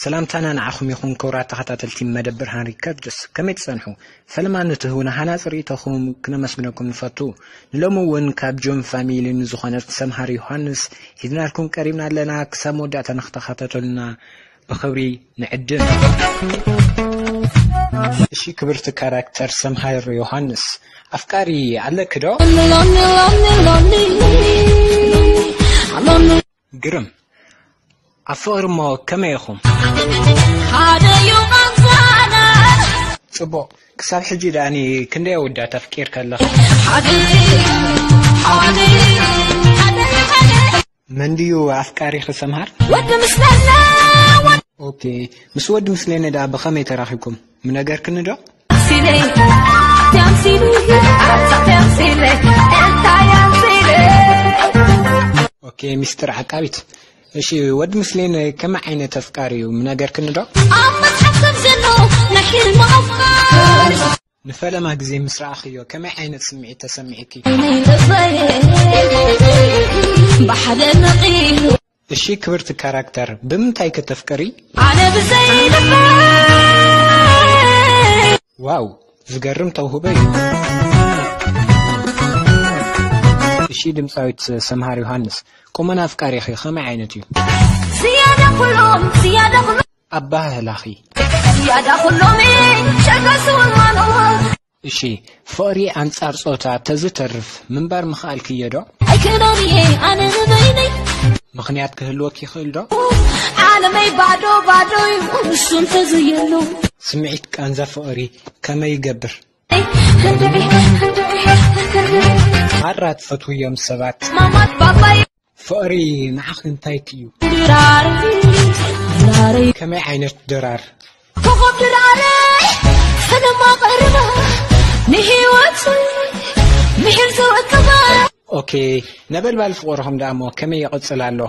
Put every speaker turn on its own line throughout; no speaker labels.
ሰላምታና ንዓኹም ይኹን ክብራት ተኸታተልቲ መደብር ሃንሪ ከርድስ ከመይ ትጸንሑ ፈለማ ንትህቡና ሃናጽ ርእይቶኹም ክነመስግነኩም ንፈቱ ንሎሚ እውን ካብ ጆን ፋሚሊ ንዝኾነት ሰምሃር ዮሃንስ ሂዝናልኩም ቀሪብና ኣለና ክሳብ መወዳእታ ንክተኸታተሉና ብክብሪ ንዕድም። እሺ ክብርቲ ካራክተር ሰምሃር ዮሃንስ ኣፍቃሪ ኣለኪ ዶ? ግርም ኣብ ፍቕሪ እሞ ከመይ ኢኹም? ጽቡቕ ክሳብ ሕጂ ደኣኒ ክንደይ ኣወዳት ኣፍቂርካ ኣለኻ? መን ድዩ ኣፍቃሪኺ ሰምሃር? ወዲ ምስለነ ኦኬ ምስ ወዲ ምስሌነ ደኣ ብኸመይ ተራኺብኩም ምነገርክኒ ዶ? ኣምሲለይ ኣቲ ኣምሲለይ ኣቲ ኣምሲለይ እንታይ ኣምሲለይ ኦኬ ሚስጥር ዓቃቢት እሺ ወዲ ምስሌነ ከመይ ዓይነት ኣፍቃሪ እዩ ምነገርክኒ ዶ? ኣብ መጽሓፍ ከም ዘሎ ናይ ሕልሚ ኣፍቃሪ ንፈለማ ግዜ ምስ ረኣኽዮ ከመይ ዓይነት ስምዒት ተሰሚዑኪ? እሺ ክብርቲ ካራክተር ብምንታይ ከ ተፍቅሪ? ዋው ዝገርም ተውህቦ እዩ። እሺ ድምፃዊት ሰምሃር ዮሃንስ ቁመና ኣፍቃሪኺ ከመይ ዓይነት እዩ? ኣበሃህላኺ። ዝያዳ ኩሎሚ ሸገሱ እማኑ። እሺ ፍቕሪ ኣንጻር ጾታ ተዝተርፍ ምንባር ምኸኣልክዮ ዶ? ኣይክእሎን እየ ኣነ ንበይነይ። ምኽንያት ክህልወኪ ይኽእል ዶ? ዓለመይ ባዶ ባዶ ዩ ንሱ እንተዘየሎ። ስምዒት ቃንዛ ፍቕሪ ከመይ ይገብር? ክንድዒ ክንድዒ ክንድዒ። ማራ ትፈትውዮም ሰባት። ማማት ባባይ። ፍቕሪ ንዓኺ እንታይ ክዩ? ከመይ ዓይነት ድራር? ኮኾብ ድራረይ ሕነማ ቀርባ ንህይወት ኦኬ ነበልባል ፍቕርኹም ደኣሞ ከመይ ይቕጽል ኣሎ?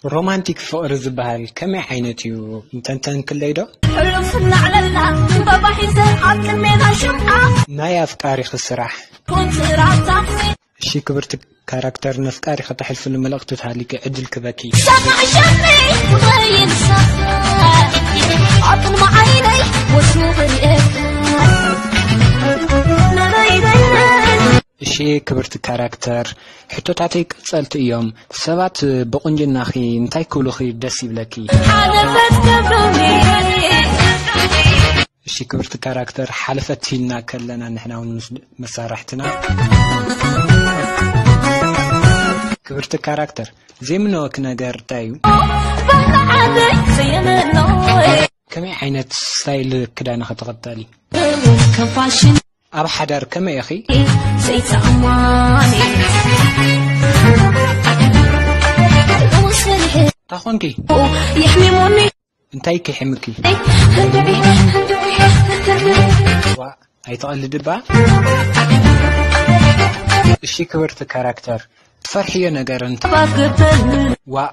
ሮማንቲክ ፍቅሪ ዝባሃል ከመይ ዓይነት እዩ ምተንተንክለይ ዶ። ሕሉፍ እናዕለልና ዕምበባ ሒዘ ኣብ ቅድሜና ሽምዓ። ናይ ኣፍቃሪኺ ስራሕ። ኩንትራት ታክሲ። እሺ ክብርቲ ካራክተር ነፍቃሪኺ ተሕልፍሉ መልእኽቲ ተሃልዩኪ ዕድል ክህበኪ። ሰማዒ ሸምዒ ትኸይድ ሳኽሳኽ ኣብ ቅድሚ ዓይነይ ወትሩ ክሪኤካ። እሺ ክብርቲ ካራክተር ሕቶታተይ ቀጸልቲ እዮም ሰባት ብቁንጅናኺ እንታይ ክብሉኺ ደስ ይብለኪ? ሓለፈት ክብሉኒ እሺ ክብርቲ ካራክተር ሓለፈት ኢልና ከለና ንሕና ውን ምስ መሳርሕትና ክብርቲ ካራክተር ዘይምነወኪ ነገር እንታይ እዩ? ባርዓተይ ዘየመኖይ ከመይ ዓይነት ስታይል ክዳንኺ ትኽተሊ? ከም ፋሽን ኣብ ሓዳር ከመይ ኢኺ? እንታ ኾንኪ? እንታይ ኪሒምኪ? ዋእ ኣይትቐልዲ እባ። እሺ ክብርቲ ካራክተር ትፈርሕዮ ነገር እንተ ዋእ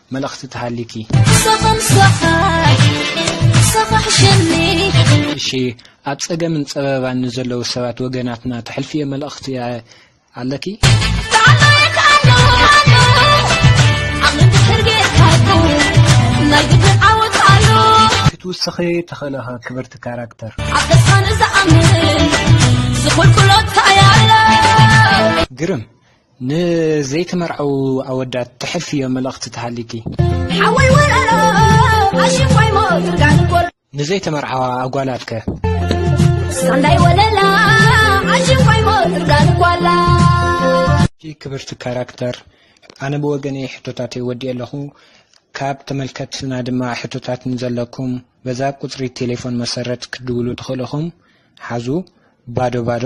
መልእኽቲ ተሃልዩኪ። ምሳኻ ምሳኻ ምሳኻ ሕሸኒ። እሺ ኣብ ጸገምን ጸበባን ንዘለዉ ሰባት ወገናትና ተሕልፍዮ መልእኽቲ ኣለኪ? ተዓዘብቲ ክትውስኺ ትኽእልኸ ክብርቲ ካራክተር። ግርም ንዘይተመርዐዉ ኣወዳት ተሕልፍዮ መልእኽቲ ተሃሊኪ? ሓወይ ወረሮ ኣሽንኳይ ሞትርጋን ኮሎ። ንዘይተመርዓዋ ኣጓላት ከ? ሳንዳይ ወለላ ኣሽንኳይ ሞትርጋን ኳላ። ኣቲ ክብርቲ ካራክተር ኣነ ብወገነይ ሕቶታተይ ወዲኤ ኣለኹ ካብ ተመልከትትና ድማ ሕቶታት ንዘለኩም በዛ ቁጽሪ ቴሌፎን መሰረት ክትድውሉ ትኽእሉ ኢኹም ሓዙ ባዶ ባዶ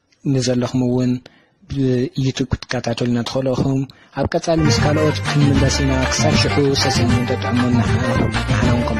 ንዘለኹም ውን ብዩቱብ ክትከታተሉና ትኽእሉ ኢኹም። ኣብ ቀጻሊ ምስ ካልኦት ክንምለስ ኢና። ክሳብ ሽሑ ሰሰን ጥዕሙን ንሓና ንሓና